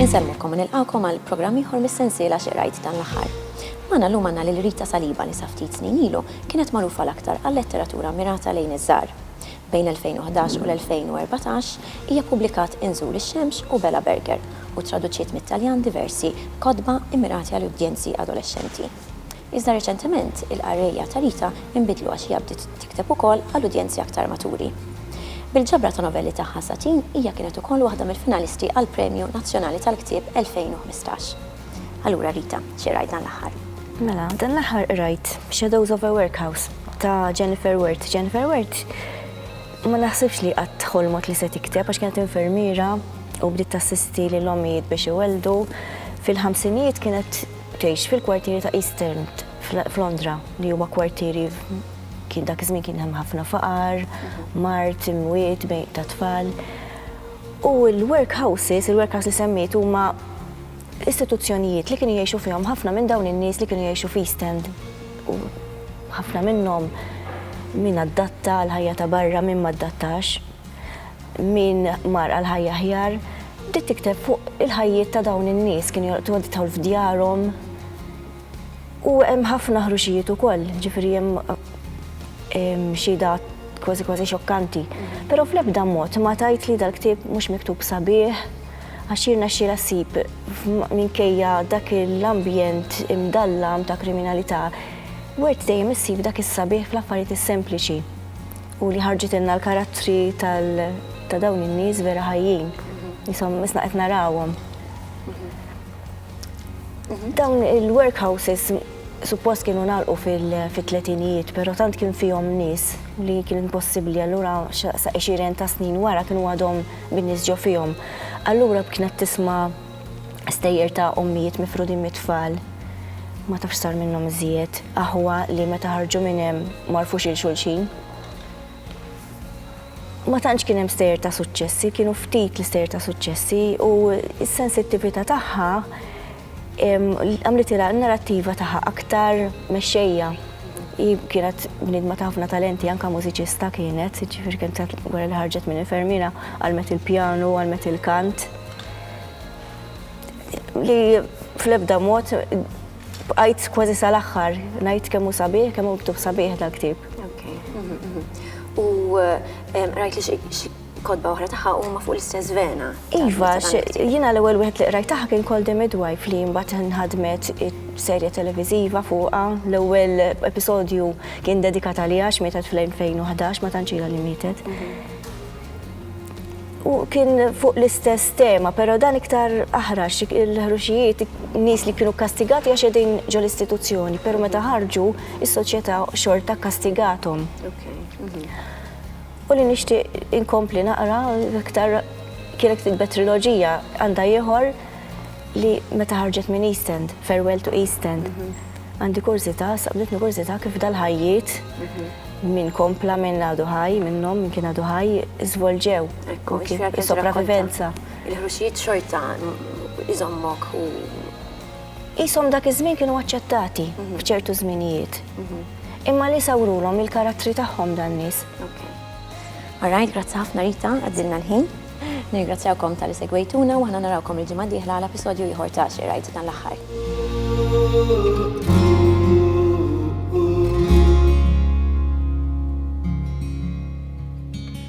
Insellmilkom u nilqgħukom għal programm ieħor mis-sensiela Xi Qrajt Dan l-Aħħar. Magħna llum għandna lil Rita Saliba li sa ftit snin ilu kienet magħrufa l-aktar għal letteratura mmirata lejn iż-żgħar. Bejn l-2011 u l-2014 hija ppubblikat Inżul ix-xemx u Bela Berger u ttraduċiet mit-Taljan diversi kotba immirati għal udjenzi adolexxenti. Iżda reċentement il-qarrejja ta' Rita inbidlu għax hija bdiet tikteb ukoll għal udjenzi aktar maturi. Bil-ġabra ta' novelli tagħha Satin hija kienet ukoll waħda mill-finalisti għall-Premju Nazzjonali tal-Ktieb 2015. Allura Rita, xi qrajt dan l-aħħar? Mela, dan l-aħħar qrajt Shadows of a Workhouse ta' Jennifer Wert. Jennifer Wert ma naħsibx li qatt ħolmot li se tikteb għax kienet infermiera u bdiet tassisti lil ommijiet biex iwelldu. Fil-ħamsinijiet kienet tgħix fil-kwartieri ta' East End f'Londra li huwa kwartieri kien dak iż-żmien kien hemm ħafna faqar, mart, imwiet bejn ta' tfal. U l-workhouses, il-workhouse li semmiet huma Istituzzjonijiet li kienu jgħixu fihom ħafna minn dawn in-nies li kienu jgħixu f'East End u ħafna minnhom min addatta għal ħajja ta' barra min ma addattax, min mar għal ħajja aħjar, bdiet tikteb fuq il-ħajjiet ta' dawn in-nies kienu jolqtu għand idħol f'djarhom. U hemm ħafna ħruxijiet ukoll, ġifieri hemm xhieda kważi kważi xokkanti. Però fl-ebda mod ma tgħid li dal-ktieb mhux miktub sabiħ, Għax jirnexxielha ssib, minkejja dak l-ambjent imdallam ta' kriminalità, wirt dejjem issib dak is-sabiħ fl-affarijiet is-sempliċi u li ħarġitilna l-karattri ta' dawn in-nies vera ħajjin, jisom isna qed narawhom. Dawn il-workhouses suppost kienu nagħlqu fit-tletinijiet, però tant kien fihom nies li kien impossibbli allura sa 20 ta' snin wara kienu għadhom bin-nies ġo fihom. Allura b'kienet tisma' stejjer ta' ommijiet mifrudin mit-tfal. Ma tafx sar minnhom iżjed. Aħwa li meta ħarġu minn hemm m'għarfux lil xulxin. Ma tantx kien hemm stejjer ta' suċċessi, kienu ftit l-istejjer ta' suċċessi u s-sensittività tagħha Għamlitilha n-narrattiva tagħha aktar mexxejja. Hi kienet bniedma ta' ħafna talenti, anke mużiċista kienet, ġifieri kienet wara li ħarġet minn infermiera, għallmet il-pjanu, għallmet il-kant. Li fl-ebda mod bqajt kważi sal-aħħar ngħid kemm hu sabiħ, kemm hu miktub sabiħ dal-ktieb. U rajt li Kotba oħra tagħha huma fuq l-istess vena. Iva, jiena l-ewwel wieħed li qrajt tagħha kien Call the Midwife li mbagħad nħadmet serje televiżiva fuqha. L-ewwel episodju kien dedikat għaliha għax mietet fl-2011 ma tantx li mietet. Mhm. U kien fuq l-istess tema, pero dan iktar aħrax il-ħruxijiet nis li kienu kastigati għax edin ġol istituzzjoni, pero meta ħarġu is-soċjetà xorta kastigatom. Mhm. U li nixtieq inkompli naqra iktar kienet kitba triloġija għandha ieħor li meta ħarġet minn East End, Farewell to East End. Għandi kurżità, saqbditni kurżità kif dal-ħajjiet, min kompla, min għadu ħaj minnhom, min kien għadu ħaj, żvolġew. Ekku, kif sopravivenza. Il-ħruxijiet xorta iżommok u Qishom dak iż-żmien kienu aċċettati f'ċertu żminijiet. Imma li sawrulhom il-karattri tagħhom dan nies. Alright, grazzi ħafna Rita, għaddilna l-ħin. Nirgrazzjawkom tal-li segwejtuna u aħna narawkom il-ġimgħa d-dieħla għal episodju ieħor ta' Xi Rajt dan l-aħħar.